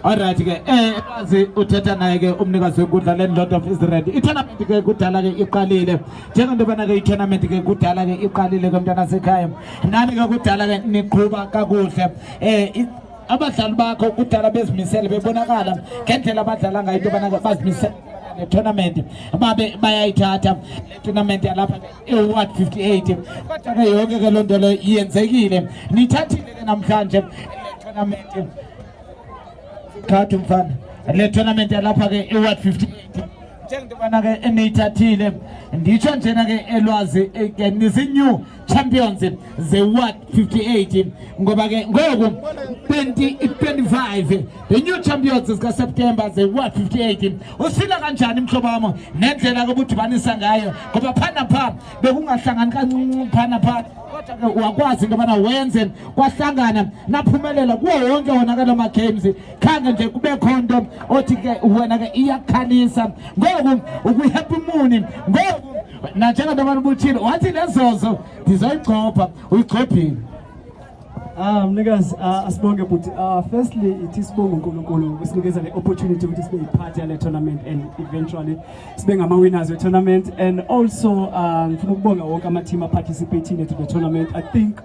Alright ke eh kwazi uthetha naye ke umnikazi wenkundla le Lord of Israel. I-tournament ke kudala ke iqalile. Njengento bana ke i-tournament ke kudala ke iqalile ke mntana sekhaya. Nani ke kudala ke niqhuba kakuhle. Eh abadlali bakho kudala bezimisele bebonakala ngendlela abadlala ngayo into bana bazimisele ne-tournament babe bayayithatha le-tournament yalapha eward 58 kodwa ke yonke ke loo nto leyo yenzekile nithathile ke namhlanje tournament khathi mfana le tournament yalapha ke eward 58 njengentobana ke eniyithathile nditsho njena ke elwazi eh, nizi-new champions ze-ward 58 ngoba ke ngoku 25 the new champions zikaseptemba ze-ward 58 usila kanjani mhlobo wami nendlela kobudibanisa ngayo ngoba phana pha bekungahlangani kancinci phana pha kodwa-ke wakwazi into yobana wenze kwahlangana naphumelela kuwo wonke wona ke loo ma-games khange nje kubekho nto othi ke wena ke iyakhalisa ngoku ukwihappy muni ngoku nanjenganto abantu ubuthile wathi nezozo ndizayigxobha uyigxobhile Ah mnikazi ah, asibonge bhuti ah, firstly ithi sibonge uNkulunkulu ukusinikeza le opportunity ukuthi sibe yipart yale tournament and eventually sibe ngama winners we tournament and also ah, ngifuna ukubonga wonke ama team participating to the tournament I think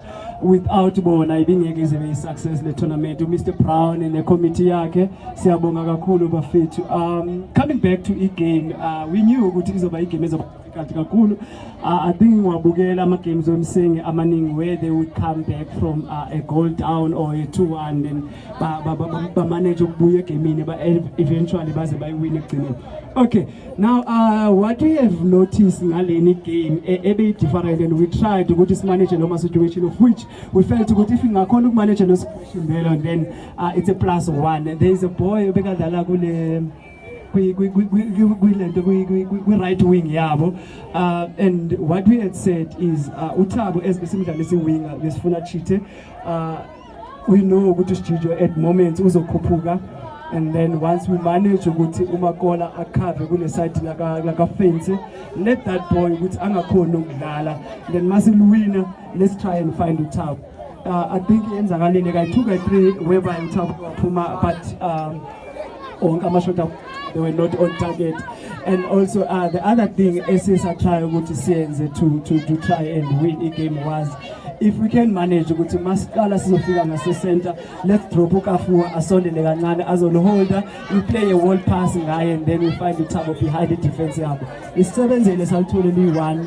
without bona ibingeke ize be success le tournament uMr Brown ne committee yakhe siyabonga kakhulu bafethu um coming back to i game uh, we knew ukuthi izoba i game ezoba kathi kakhulu uh, i think ngiwabukela ama-games wemsingi amaningi where they would come back from uh, a goal down or a two one then bamanage ukubuya egemini eventually baze bayiwine ekugcineni okay now uh, what we have noticed ngaleni game e, ebeyi-different and we tried ukuthi simanage noma situation of which we felt ukuthi if ingakhona ukumanage nosibelo then uh, it's a plus one there is a boy obekadlala kule kwilento kwi-right wing yabo uh, and what we had said is uh, uthabo as besimdlala isiwinga besifuna chithe uh, we know ukuthi usijijo at moments uzokhuphuka and then once we manage ukuthi umakola akhave kule side lakafensi let that boy ukuthi angakhoni ukudlala then masiluwina let's try and find uthabo uh, I think yenzakalile kayi 2 kayi 3 whereby uThabo waphuma but um onke amashota they were not on target and also uh, the other thing esisathaya ukuthi siyenze to to to try and win i game was if we can manage ukuthi masiqala sizofika ngase center let's drop ukafuwa asondele kancane azoliholda we play a wall pass ngaye and then we find uthabo behind the defense yabo isisebenzele salithole liyi-one